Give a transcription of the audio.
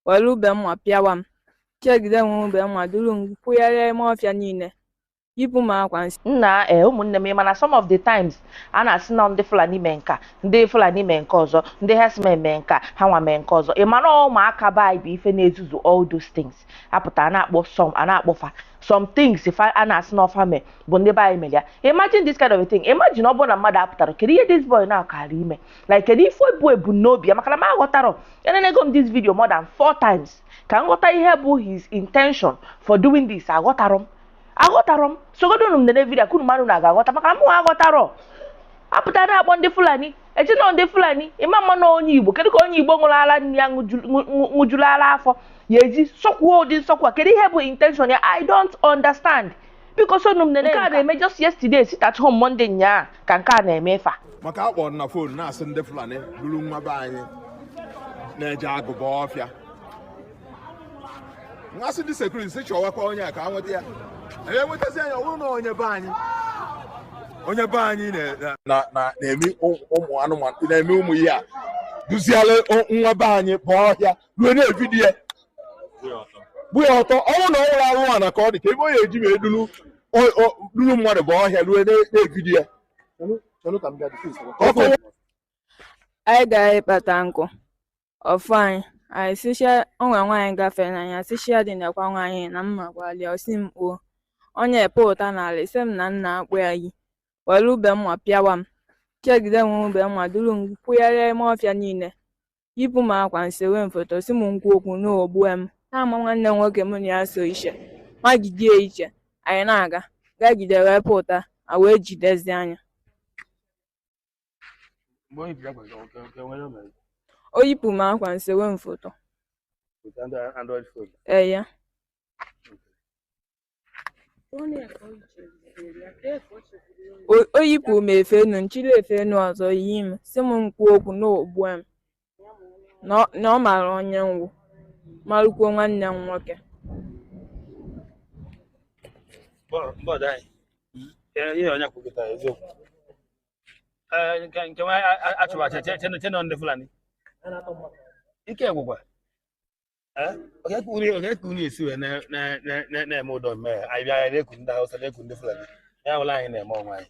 were ube mma pịawa m chegide were ube mma duru m kwụgharịa ime ọfịa niile yipụ m akwa nsị nna ee eh, ụmụnne m mana some of the times a na-asị na ndị fulani mee nke a ndị fulani mee nke ọzọ ndị herdsmen mee nke a ha nwa mee nke ọzọ ị mara ụmụaka be anyị bụ ife na-ezuzu all those things a pụta a na-akpọ some a na-akpọ fa some things fa a na-asị na ọ fa mee bụ ndị be anyị mere ya imagine this kind of a thing imagine ọ bụrụ na mmadụ apụtara kedu ihe this boy na-akara ime like kedu ife bụ ebumnobi ya maka na m aghọtarọ enenego m this video more than four times ka m ghọta ihe bụ his intention for doing this aghọtarọ m aghọtarọ m sogodonu m nene video ka unu mara ma unu ga-aghọta maka na mụ aghọtarọ a pụta na-akpọ ndị fulani e che na ọ ndị fulani ị ma ma na onye igbo kedu ka onye igbo ṅụrụ ara nne ya ṅụju- ṅụ- ṅụ- ṅụjuru ara afọ ya eji sọkwuo ụdị nsọkwu a kedu ihe bụ intention ya i don't understand biko sonu m nene nke a na-eme just yesterday sit at home Monday nyaa ka nke a na-eme ifa maka akpọ na phone na-asị ndị Fulani buru nwa be anyị na-eje agụ ba ọfịa ngasị ndị security si chọwakwa onye a ka a nweta ya anyị enwetazia ya ọ wụrụ na onye be anyị onye be anyị na-eme ụmụ anụmanụ na-eme ụmụ ihe a duziere nwa be anyị baa ọhịa ruo na-evideo ya gba ya ọtọ ọnwụ na ọnwụrụ anwụ a na ka ọ dị ka ebe onye eji wee duru duru mmadụ baa ọhịa ruo na-evideo ya anyị gara ịkpata nkụ ọ fụ anyị anyị sị ya o nwe nwaanyị gafere anyị sị ya dị nakwa nwaanyị na mma gwali ọ sị m kpuo onye pụta n'ala ise m na nna akpụ ya yi were ube mma pịawa m chegide nwe ube mma duru m kwụgharịa ime ọfịa niile yipụ m akwa nsewe m foto sị m m kwuo okwu na o gbue m na ọ ma nwanne m nwoke mụ na ya so iche ma jidie iche anyị na-aga gagide wee pụta a wee jidezia ya mgbe o yipụrụ akwa nke nwoke nke nwere o mere o yipụ m akwa nsewe m foto with android phone ee ya O yipụ m efe enu, nchịrị efe enu ọzọ yi m, sị m m kwuo okwu na o gbue m na ọ mara onye m wụ, marụkwuo nwanne m nwoke. nke nwa achụwacha che na ọ ndị Fulani ike gwụkwa onye ka unu onye ka unu esi wee na- na- na- na- na-eme ụdị mmehie anyị bịa anyị na-eku ndị Hausa na-eku ndị Fulani ya wụrụ anyị na-eme onwe anyị